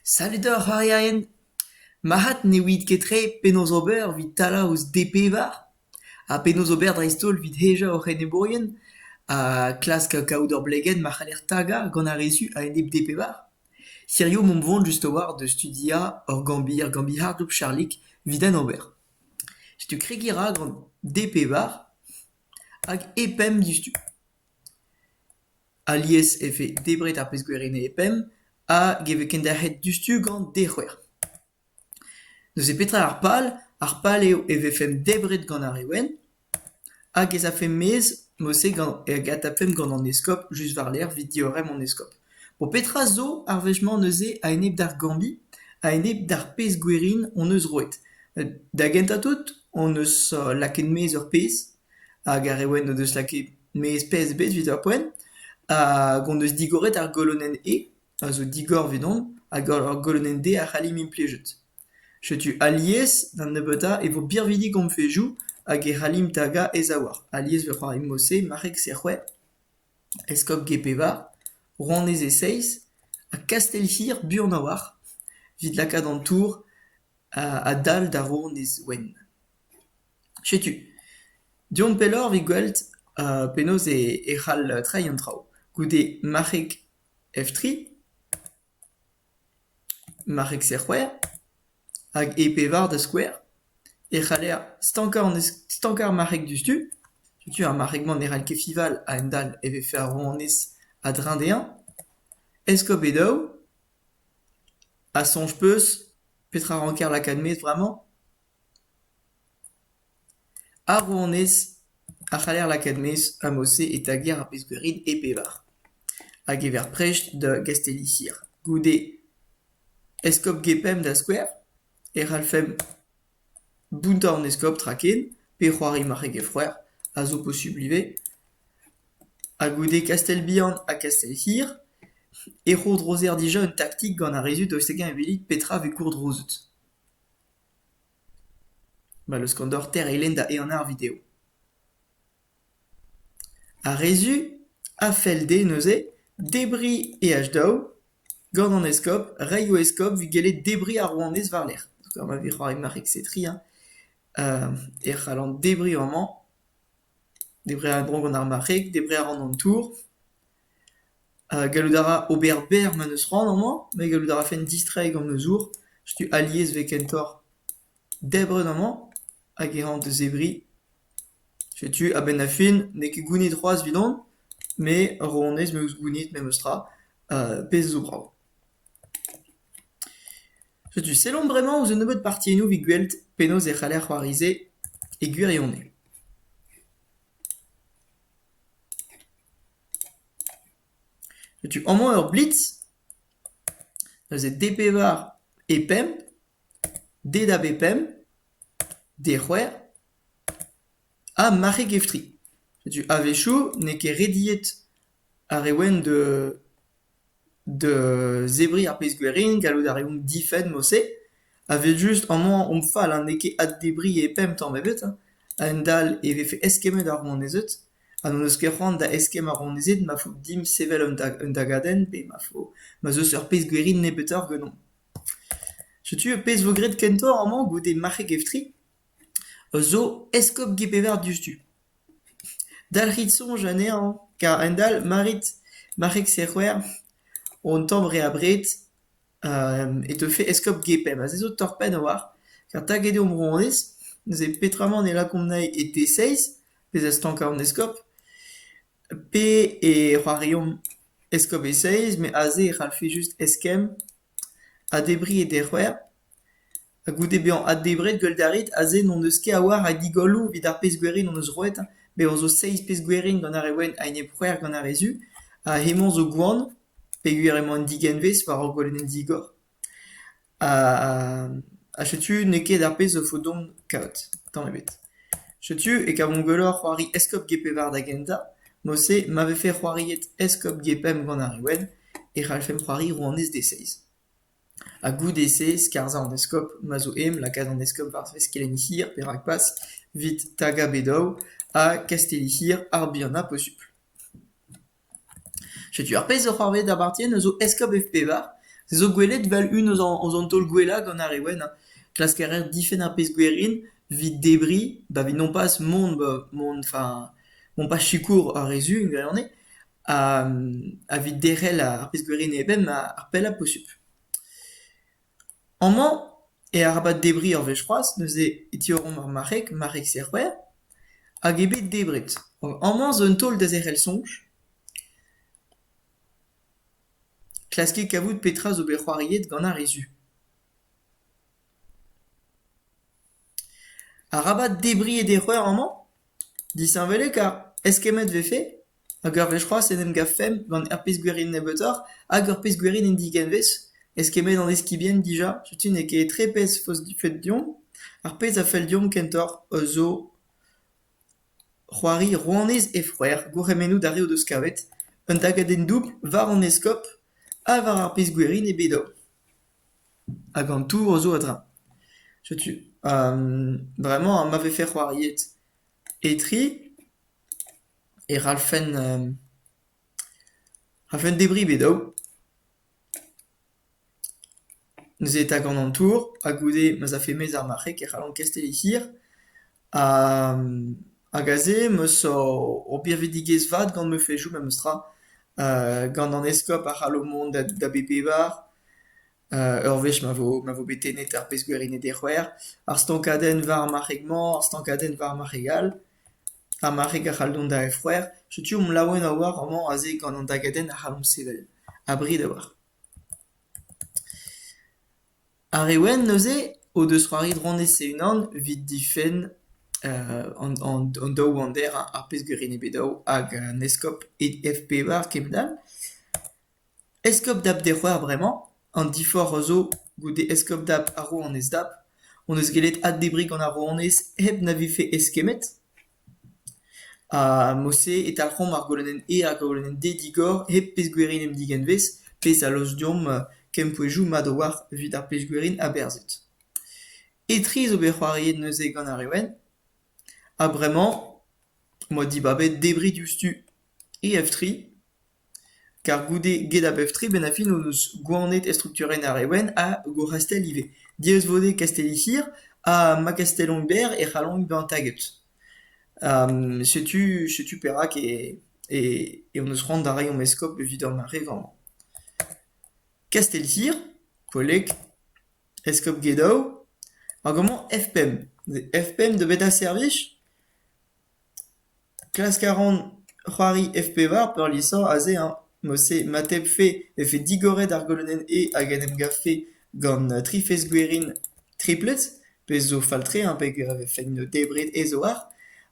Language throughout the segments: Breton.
Savet oc'h arierien ? Marc'had ne ouiit ket tre penaos ober evit talañ ouzh D-pevar ha penaos ober dreist-holl evit hejañ hoc'h enebourien ha klask kaout ur blegenn ma c'haller tagañ gant ar re zu a-enep D-pevar. Hiziv omp 'vont just a-walc'h da studiañ ur gambr ur gambr harzoù Charlig evit en ober. Setu kregiñ 'ra gant D-pevar hag E-pemp diouzhtu. Alies e vez debret ar pezh-gwerennez e penn hag e vez kenderc'het diouzhtu gant dec'hwer. Neuze petra ar pal? Ar pal eo e vefemp debret gant ar re wenn hag ez afemp maez mod-se gant hag adtapemp gant an eskob just war-lerc'h evit diorren an eskob. Bon petra zo ar wech-mañ neuze a-enep d'ar Gambie, a-enep d'ar pezh-gwerin hon eus roet? Da gentañ tout hon eus laket maez ur pezh. Hag ar re wenn o deus lakaet maez pezh ebet evit ar poent, hag hon eus digoret ar golonenn E, a zo digor evidon, hag ar golonenn D a c'hallimp implijet. Setu alies da nebeutañ e vo birvidik hon fezhioù hag e c'hallimp tagañ e zaouarn. Alies e vo c'hoarvezet mod-se marc'heg C-c'hwec'h, eskob G-pevar, rouanez E-seizh, ha kastell-hir buan a-walc'h evit lakaat an tour adal da rouanez wenn. Setu, deomp pelloc'h evit gwelet penaos e c'hall treiñ an traoù goude marc'heg F tri, marc'heg C c'hwec'h hag e pevar da skouer e c'haller stankañ an stankañ ar marc'heg diouzhtu. Setu ar marc'heg-mañ ne c'hall ket fiñval a-hend-all e vez fer rouanez a-dreñv dezhañ. Eskob eo daou ha soñj 'peus petra ranker lakaat 'maez bremañ? Ar rouanez a c'haller lakaat maez Amose eta gêr ar peskouerid e pevar a gever prest da Gastellisir. Goude eskob Gepemp da skouer e c'hallfemp bountañ an eskob tra ken pe c'hoari marc'heg e c'hwec'h a zo posubl ivez. Ha goude Kastell-Bihan ha Kastell-Hir e c'hourdrozer dija un taktik gant ar rezud daoust hag-eñ e welit petra vez gourdrozet. Ma n'eus ket deoc'h tereilenn da ehan ar video. Ar re-zu a fell dezhe neuze debriñ EH-daou gant an eskob, reiñ o eskob evit gellet debriñ ar rouanez war-lerc'h. Gant ma vez c'hoari marek-se-tri, e c'hallan debriñ amañ. Debret a ra dro gant ar marc'heg, debret a ran an tour. Gallout a ra ober berr ma n'eus c'hoant amañ, met gallout a rafen distreiñ gant ma zour. Setu alies 'vez kentoc'h debret amañ hag e ran da zebriñ. Setu a-benn ar fin, n'eo ket gounid c'hoazh evidon, met honnezh 'meus gounid memes tra, pezh zo brav. Setu sellomp bremañ ouzh un nebeud partiennoù evit gwelet penaos e c'haller c'hoarize e gwirionez. Setu amañ ur blitz, neuze D pevar e pemp, D da B pemp, D c'hwec'h ha marc'heg F tri. Setu a-wechoù n'eo ket rediet Ar re wenn da da zebriñ ar pezh-gwerin, gallout a reomp difenn mod-se, evel-just amañ omp fall ha n'eo ket addebriñ e pemp tamm ebet, a-hend-all e vefe eskemmet ar rouanezed ha n'hon eus ket c'hoant da eskemm ar rouanezed ma fo dimp sevel un da- un dagadenn pe ma fo ma'z eus ur pezh-gwerin nebeutoc'h ganeomp. Setu pezh vo graet kentoc'h amañ goude marc'heg Eftri. a zo eskopti Pevar diouzhtu. Dalc'hit soñj anezhañ kar a-hend-all ma rit ma c'hegse c'hwec'h an tamm re abred e teufe eskopti Pemp. Ha se zo torr-penn a-walc'h kar taget eo Bro-Hanes, neuze peotramant e lakaomp anezhi e D6, bezañ stankañ an eskob, pe e c'hoariomp eskob E6, met aze e c'hallfe just eskemm ha debriñ e D c'hwec'h. Ha goude bezañ addebret gwell da ret, aze n'hon eus ket a-walc'h a digolloù evit ar pezh-gwerin hon eus roet. Bevañ zo seizh pezh-gwerin gant ar re wenn a enep-c'hwec'h gant ar re zu, ha hemañ zo gwan, peogwir emañ un digenvez war hor gwalenn digor. Ha setu n'eo ket ar pezh a fo deomp kaout, tamm ebet. Setu e kavomp gwelloc'h c'hoari eskob Gêpevard da gentañ. Mod-se, ma vefe c'hoariet eskob Gepemp gant ar re wenn, e c'hallfemp c'hoari rouanez D6. Ha goude-se skarzhañ an eskob ma zo aem lakaat an eskob war-dreuz kelenn-hir pe rakpas evit tagañ Bedow ha kastelli-hir ar bihanañ posupl. Setu ar pezh zo c'hoarvezet da Bartien eus o eskob F-pevar, se zo gwelet vel un eus an eus an taol gwellañ gant ar re wenn. Klask a reer difenn ar pezh gwerin evit debriñ ba 'vit nompas mont ba mont, enfin mont pas sikour ar re zu en gwirionez. evit derc'hel ar pezh-gwirienn-eben ar pellañ posupl. Amañ, e arabat debriñ ur wech c'hoazh, neuze e tiorromp ar marc'heg, marc'heg-se a c'hwec'h, hag eo bet debret. Amañ zo un taol da zerc'hel soñj. Klaskit kavout petra zo bet c'hoariet gant ar re zu. Arabat debriñ e dec'heur amañ? Disheñvelik ha eskemmet 'vefe? hag ur wech c'hoazh en em gavfemp gant ur pezh gwerin nebeutoc'h hag ur pezh gwerin en digenvez eskemmet an eskibien dija setu n'eo ket tre pezh 'feus difenn deomp ar pezh a fell deomp kentoc'h zo c'hoari rouanez he c'hwec'h gourc'hemennoù d'ar re o deus kavet un dagadenn doubl war an eskob ha war ar pezh gwerin eo bet dezho hag an tour zo a-dreñv setu bremañ ma vefe c'hoariet etre e c'hallfen c'hallfen debriñ bet daou. Neuze e tagan an tour ha goude ma'z afe mezh ar marc'heg e c'hallan kesteliñ hir. Hag aze m'eus ur birvidigezh vat gant ma fezhioù memes tra, gant an eskob a c'hallo mont da da bep pevar. Ur wech ma vo ma vo bet tennet ar pezh-gwerined e c'hwec'h, ar stankadenn war marc'heg-mañ, ar stankadenn war marc'heg-all, ha marc'heg a c'hall dont da f-c'hwec'h. Setu omp laouen a-walc'h amañ aze gant an dagadenn a c'hallomp sevel. Abred a-walc'h. Ar re wenn neuze o deus c'hoari dronez e-unan evit difenn an an an daou ander, ar pezh-gwerined bet daou hag an eskob e F-P-Var kement all. Eskob dap d'e c'hoar bremañ, an diforc'h a zo goude eskob dap ha rouanez dap, hon eus gellet addebriñ gant ar rouanez hep na vefe eskemmet. Ha mod-se e talc'homp ar golodenn E hag ar golodenn D digor hep pezh-gwerin em digenvez, pezh a losk deomp kempouezoù mat a-walc'h evit ar pezh-gwerin aberzhet. Etre zo bet c'hoariet neuze gant ar Reouen, ha bremañ 'moa dibabet debriñ diouzhtu E F tri. Kar goude get ar pep-tre bennafi hon eus gouarnet estrukturenn ar Reouen ha Gourc'hastell ivez, diaes-vo-dezhe Kastelli-Hir ha ma kastellon-berr e c'hallont bezañ taget. setu setu perak e hon eus c'hoant da reiñ hom eskob evit ar mare vremañ. Kastelli-Hir, koleg, eskob Gedaou, ar gammont F5. F5 eo bet ar servij ? Klask a ran c'hoari F-pevar peurliesañ aze hañ ! Mod-se ma tebfe efe digoret ar golonenn E hag en em gavfe gant tri fezh-gwerin triplet, pezh zo fall-tre hañ ! peg a vefen debret ez-oar,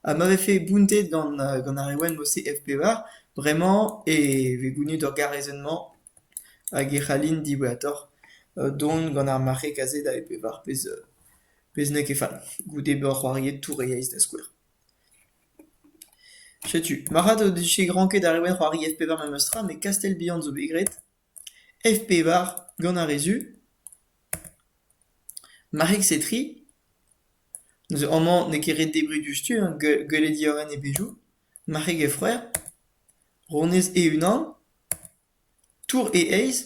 ha ma vefe bountet gant gant ar reolenn mod-se F-pevar, bremañ e vez gounid ur garezenn-mañ hag e c'hallin diwezhatoc'h dont gant ar marc'heg aze da F-pevar, pezh pezh n'eo ket fall, goude bezañ c'hoariet tour e yezh da skouer. Setu, marc'had o dije granked ar reolenn c'hoari F pevar memestra met Kastell-Bihan zo bet graet. F pevar gant ar re zu. Marc'heg-se tri. Neuze amañ n'eo ket ret debriñ diouzhtu hein, gue- gwelet diorren e bezhioù. Marc'heg F c'hwec'h. Ronez E-unan. Tour e aez ?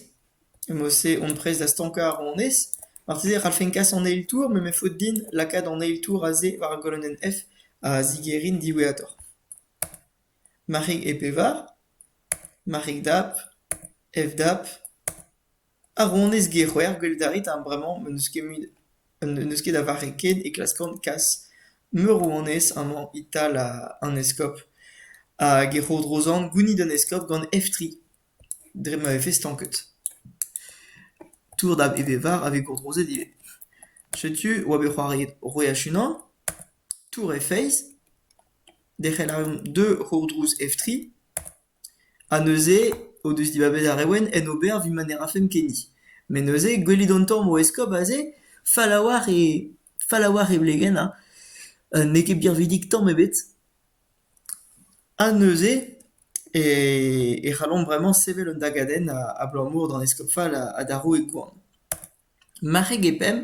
Emaout-se on prest da stankañ ar ronez ? Marteze e c'hallfen kas an eil tour met me faot din lakaat an eil tour aze war ar golonenn F a zigerin diwezhatoc'h. Marc'hig e pevar ? Marc'hig dap ? F dap ? Ar rouanez Gehwr, gwelet a rit, bremañ n'eus ket a vare ket e klaskan kas meurrouanez amañ e-tal an eskob hag e c'hourdrozan gounid an eskob gant eftri dre ma vefe stanket. Tour da Evevar a vez gourdrozet ivez. Setu oa bet c'hoariet Roeach-Unan, Tour he feiz, derc'hel a reomp deux c'hourdrouz eftri. Ha neuze o deus dibabet ar Reouenn en ober evit ma ne rafemp ken hi. Met neuze gwelit an tamm o eskob aze, fall a-walc'h e fall a-walc'h e blegenn, ha n'eo ket birvidik tamm ebet. Ha neuze e e c'hallomp bremañ sevel un dagadenn abalamour d'an eskob fall ha d'ar roue Gwan. Marc'heg eo pemp.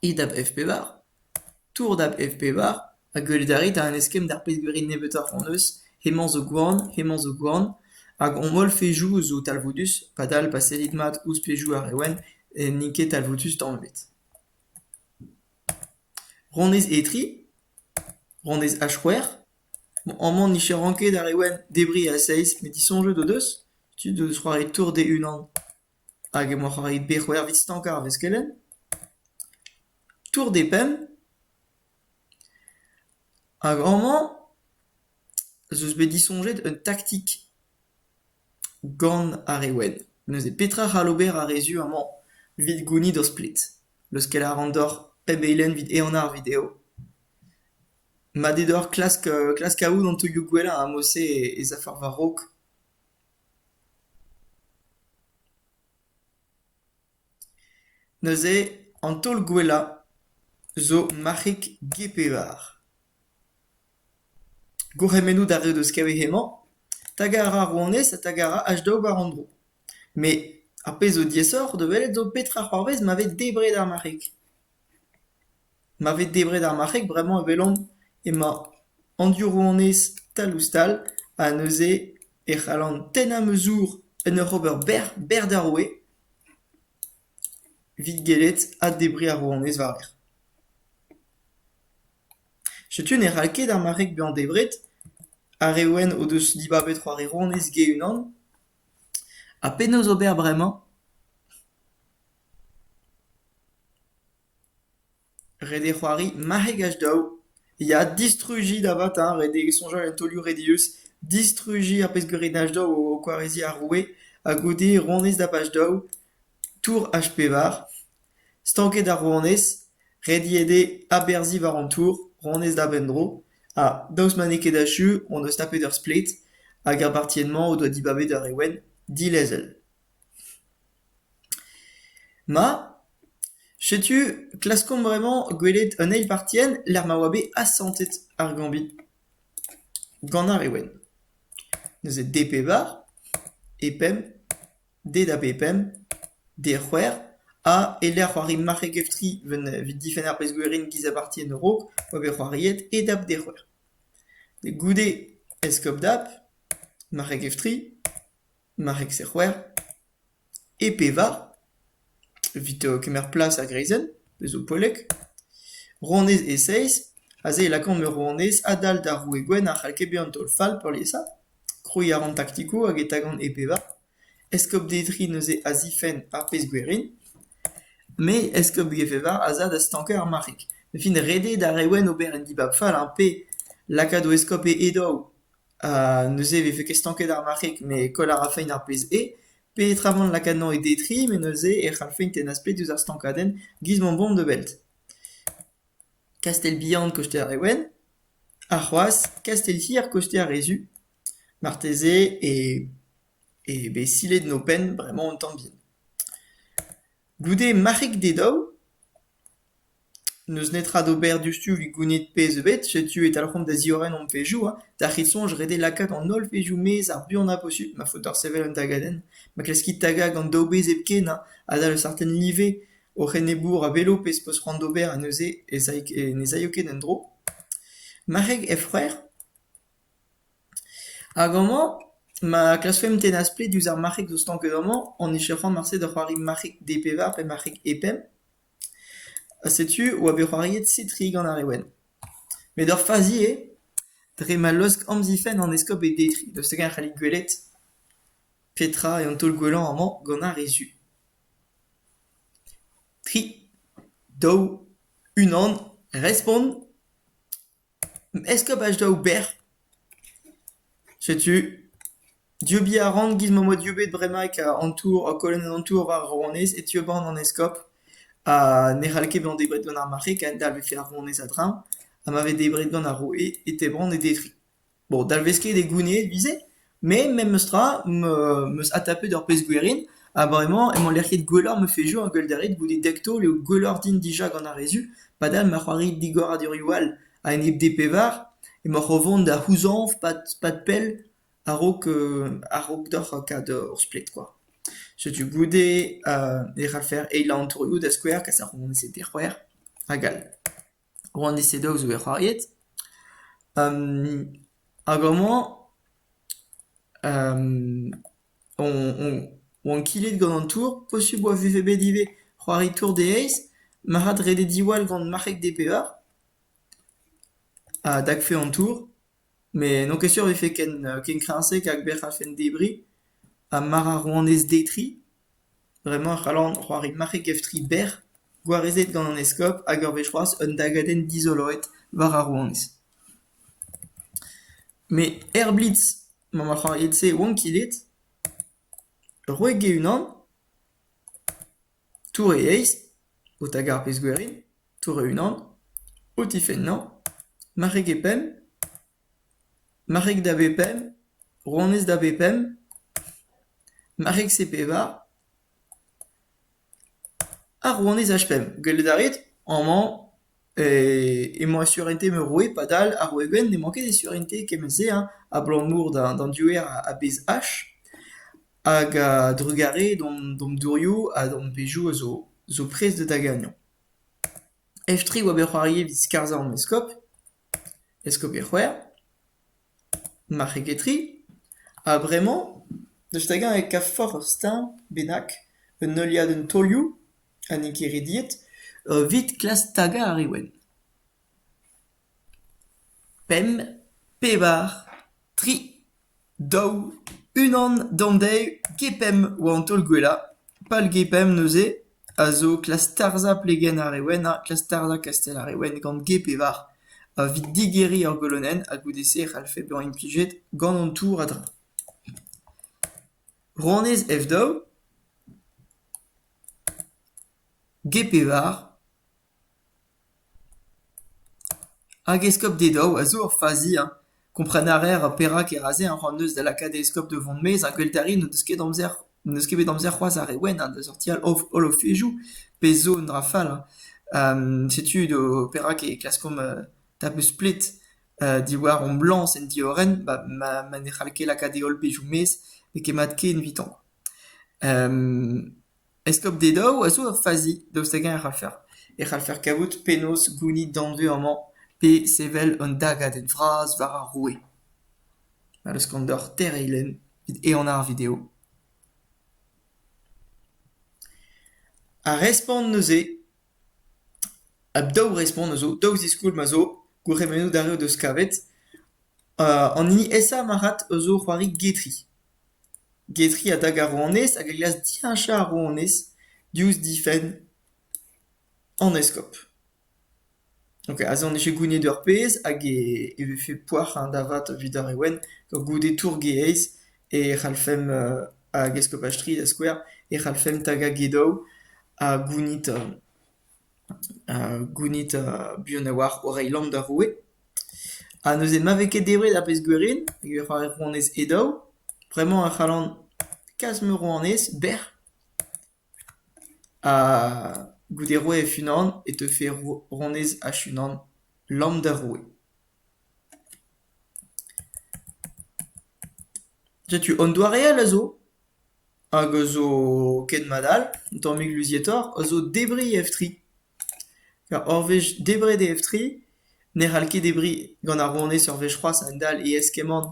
E-dab F-pevar, Tour dab F-pevar ha gwelet a rit an eskemm d'ar pezh-gwerin nebeutoc'h hon eus, hemañ zo gwan, hemañ zo gwan, hag hon holl pezhioù zo talvoudus, padal pa sellit mat ouzh pezhioù ar re wenn n'int ket talvoudus tamm ebet. Rannez E3, rannez H-c'hwec'h, bon amañ nicheran ket ar re wenn debriñ a seizh met disoñjet o deus, tud o deus c'hoari Tour D-Unan. Hag emaoc'h o reiñ bet c'hwervet stankañ ar veskelenn ? Tour des Pemps. Hag amañ ez eus bet disoñjet un taktik gant ar re wenn. Neuze petra c'hall ober ar re zu amañ evit gounit o splet ? Leuskel a ran deoc'h pemp eilenn evit enañ ar video. Ma d'eo deoc'h klask klask aout an taolioù gwellañ a-mose ez afer war-raok. Neuze an taol gwellañ zo marc'hig G-Pevar. Gourc'hemennoù d'ar re 'deus kavet hemañ. Tagañ a ra ar rouanez ha tagañ a ra H-Dog war an dro. Met ar pezh zo diaesoc'h da welet zo petra c'hoarvez ma vez debret ar marc'hig. Ma vez debret ar marc'heg bremañ e welomp emañ an diorroanez tal-ouzh-tal ha neuze e c'hallan tennañ ma zour en ur ober bec'h bec'h d'ar roue evit gellet addebriñ ar rouanez war-lerc'h. Setu ne c'hall ket ar marc'heg bezañ debret. Ar re wenn o deus dibabet c'hoari rouanez ge-unan. Ha penaos ober bremañ? Ret eo c'hoari marc'hegaj daou, ya distrujiñ davata, ret eo soñjal en taolioù redius, distrujiñ ar pezhgeurenaj daou o kwareziñ ar roue, ha goude ronez dapaj daou, tour H-pevar, stanket ar ronez, rediet eo aberzhiñ war an tour, ronez dap en-dro, ha daoust ma n'eo ket achu hon eus tapet ur splet, hag ar bartienn-mañ o doa dibabet ur reolenn dilezel. Ma, setu klaskomp bremañ gwelet an eil partienn lec'h ma oa bet asantet ar gambit gant ar re wenn. Neuze D pevar, E pemp, D da B pemp, D c'hwec'h ha e-lec'h c'hoari marc'heg-F tri evit evit difenn ar pezh-gwerin giz a bartienn a-raok oa bet c'hoariet E dap D c'hwec'h. Goude Eskop dap, marc'heg-F tri. Marc'heg-serc'her e pe va ? Evit kemer plas ar greizenn, pezh zo poellek, rouanez Eseiz aze e lakaomp ur rouanez adal d'ar roue gwenn a c'hall ket bezañ taol-fall peurliesañ. Krouiñ a ran taktikoù hag e tagan e pe va. Eskob Detri neuze a zifenn ar pezh gwerin. Me, eskob Gefeva, az a da stankañ ar marc'heg. Me 'fin ret eo d'ar re wenn ober un dibab fall, ar pe lakaat o eskob e e daou. Ha neuze e vefe ket stanket ar marc'heg met koll a rafeint ar pezh eo. Peotramant lakaat anezhañ e detriñ met neuze e c'hallfeint tennañ splet ouzh ar stankadenn giz ma omp da weld. Kastell bihan koster e ouenn, ha c'hoazh kastell hir koster e zu. Marteze eo bet silet en ho penn bremañ un tamm bihan. Goude marc'heg d'e daou. N'eus netra d'ober diouzhtu evit gounit pezh ebet, setu e talc'homp da ziorren hon pezhioù ha d'ar c'hit soñj ret eo lakaat an holl pezhioù maez ar buanañ posubl ma faot deoc'h sevel un tagadenn, ma kleskit tagañ gant daou bezh hepken ha adal ur startenn live hoc'h enebour a velo pezh 'peus c'hoant d'ober ha neuze ne z'aio ket en-dro. Marc'heg he frec'h hag amañ ma klaskfemp tennañ splet diouzh ar marc'heg zo stanket amañ, hon ec'h ec'h c'hoant marse da c'hoari marc'heg D pevar pe marc'heg E pemp. Ha setu oa bet c'hoariet Sitri gant ar re wenn. Met ur fazi eo, dre ma laosk amzifenn an eskob e detriñ. Daoust hag-eñ e c'hallit gwelet petra eo an taol gwellañ amañ gant ar re zu? Tri, daou, unan, respont ! Est-ce que pac daou bec'h ? Setu, dieubiñ a ran giz ma 'm boa dieubet bremaik an tour, kolonenn an tour war Rouanez, e tieuban an eskob ha ne c'hall ket bezañ debret gant ar marc'heg, a dalv e ket ar rouanez a-dreñv, ha ma vez debret gant ar roue e tebran e detri. Bon, dalvez ket e gounid ivez, met memestra m'eus adtapet ur pezh gwerin ha bremañ emañ lec'hiet gwelloc'h ma fezioù ha gwell da ret goude dek taol eo gwelloc'h din dija gant ar re zu. Padal ma c'hoari digoradurioù all a-enep D pevar emaoc'h o vont da c'houzañv pad pell a-raok a-raok deoc'h kaout hor splet kwa. Setu goude e c'hallfer eilañ an torioù da skouer kas ar c'hounezed d'e c'hwec'h hag all. Roan Dizze Dow zo bet c'hoariet. hag amañ on on oan kilet gant an tour, posubl 'oa vefe bet ivez c'hoari tour de heiz, marc'had redek diwall gant marc'heg DPR, a dakfe an tour. Met n'on ket sur e vefe ken ken kreñv-se hag bec'h a-fenn debriñ. Ha mar a roan ez-detriñ, bremañ e c'hallan c'hoari marc'heg-ev-tri berr gwarezet gant an eskob hag ur wech c'hoazh un dagadenn dizoloet war ar rouanez. Met er blitz m'emañ ar c'hoariet-se 'oan ket aet. Roit-ge unan. Tour e eizh, o taga ar pezh-gwerin, tour e-unan, o tifennañ, marc'heg e penn, marc'heg da bep penn, rouanez da bep penn, marc'heg C-pevar, ar rouanez H-pemp, gwelet a rit, amañ. emañ e surentez ma roue padal ar Wegenn n'emañ ket e surentez kement-se hein abalamour d'an diouer a bezh ach hag a-drugarez d'an dourioù ha d'an bezhioù a zo prest da gagnañ. Ev-tre oa bet c'hoari evit skarzhañ an eskob, eskob e c'hwec'h. Marc'heg eo tri ha bremañ deus hag-eñ e kavfoc'h ur steuñv bennak, un heuliadenn taolioù ha n'int ket rediet evit klask tagañ ar re wenn. Pemp, pevar, tri, daou, unan, daou-dek, get pemp oa an taol gwellañ. Pal GPM neuze a zo klask tarzhañ plegenn ar rewennañ, klask tarzhañ kastell ar rewenn gant G-pevar, evit digeriñ ur golonenn ha goude-se e c'hallfe bezañ implijet gant an tour a-dreñv. Rannyezh F-daou, G-pevar, Hag eskob Dedao a zo ur fazi hein kompren a raer perak e ra se un rann-neuz da lakaat eskob da vont maez ha gwell-terri n'o deus ket amzer n'eus ket bet amzer c'hoazh ar re wenn hein da sortial holofezoù pezh zo un dra fall hein setu perak e klaskomp da beus plet diwar amblañs en diorren ma ne c'hall ket lakaat e holl bezioù maez n'eo ket mat ken evitañ. Eskob d'e daou a zo ur fazi daoust hag-eñ e c'hallfer e c'hallfer kavout penaos gounit danvez amañ pe sevel un dagadenn vras war ar roue. Ma eus gant deoc'h tereiñ lenn evit ehanañ ar video. Ar respont neuze, ha daou respont a zo, daou ziskoulm a zo, gourc'hemennoù d'ar re o deus kavet. an hini aesañ marc'had a zo c'hoari getri. Getri a dag ar rouanez hag a glask diheñchañ ar rouanez diouzh difenn an eskob. Ok, aze on echu gounid ur pezh hag e e vefe poac'hañ da vat evit ar re wenn goude tourgeaez e c'hallfemp hag eskopaj 3 da skouer e c'hallfemp tagañ Gedow ha gounid gounit buan a-walc'h o reiñ lamm d'ar roue. Ha neuze ma vez ket debret ar pezh-gwerin e ra ar rouanez he daou, bremañ e c'hallan kas ma rouanez bec'h. Ha goude roiñ hec'h-unan e teufe rouanez hec'h-unan lamm d'ar roue. Setu un doare all a zo. hag a zo ken mat all, un tammig luzietoc'h, a zo debriñ ev-tri. Ur wech debret e ev-tri, ne c'hall ket debriñ gant ar ronez ur wech c'hoazh a-hend-all e eskemmont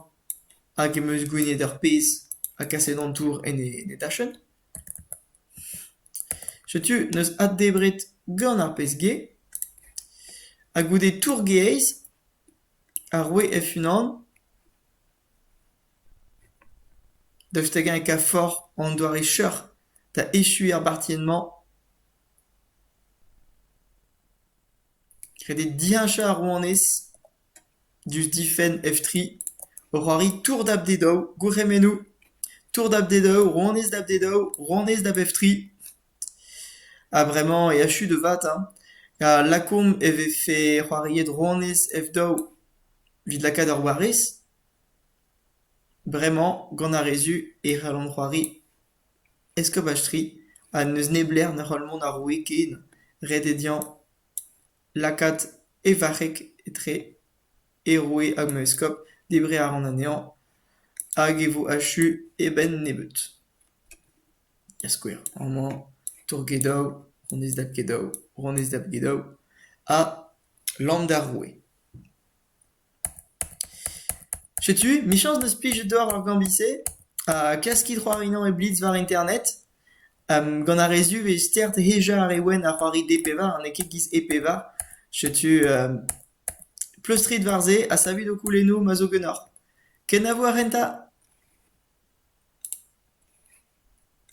hag em eus gouennet ur pezh ha kaset an tour en e dachenn. Setu n'eus addebret gant ar pezh gae ha goude tour gae-eizh, ar roue f-unan Daoust hag-eñ e kav forc'h an doare cheuc'h da echuiñ ar bartienn-mañ ? Kredet diheñchañ ar rouanez diouzh difenn Eftri, o c'hoari tour dab d'e daou, gourc'hemennoù ! Tour dab d'e daou, rouanez dab d'e daou, rouanez dab Eftri ! Ha bremañ e achu da vat hein, ha lakaomp e vefe c'hoariet rouanez F-daou evit lakaat ur warez ? Bremañ, gant ar re zu, e c'hallont c'hoari eskopaj-tri ha n'eus neblec'h na c'hall mont ar roue ken, ret eo dezhañ lakaat e varc'heg etre e roue hag ma eskob, debriñ a ran anezhañ hag e vo achu e benn nebeut. da skouer amañ tour-gedaou, honnezh dab-gedaou, honnezh dab-gedaou ha lambda roue. Setu, michañs n'eus plijet deoc'h ar gambit-se ha klaskit c'hoarinañ e blitz war internet. gant ar re zu e vez stert hejañ ar re wenn a c'hoari D-pevar ha n'eo ket giz E-pevar. Setu, pleustrit war se ha savit ho koulennoù ma zo ganeoc'h. Kenavo a ren 'ta ?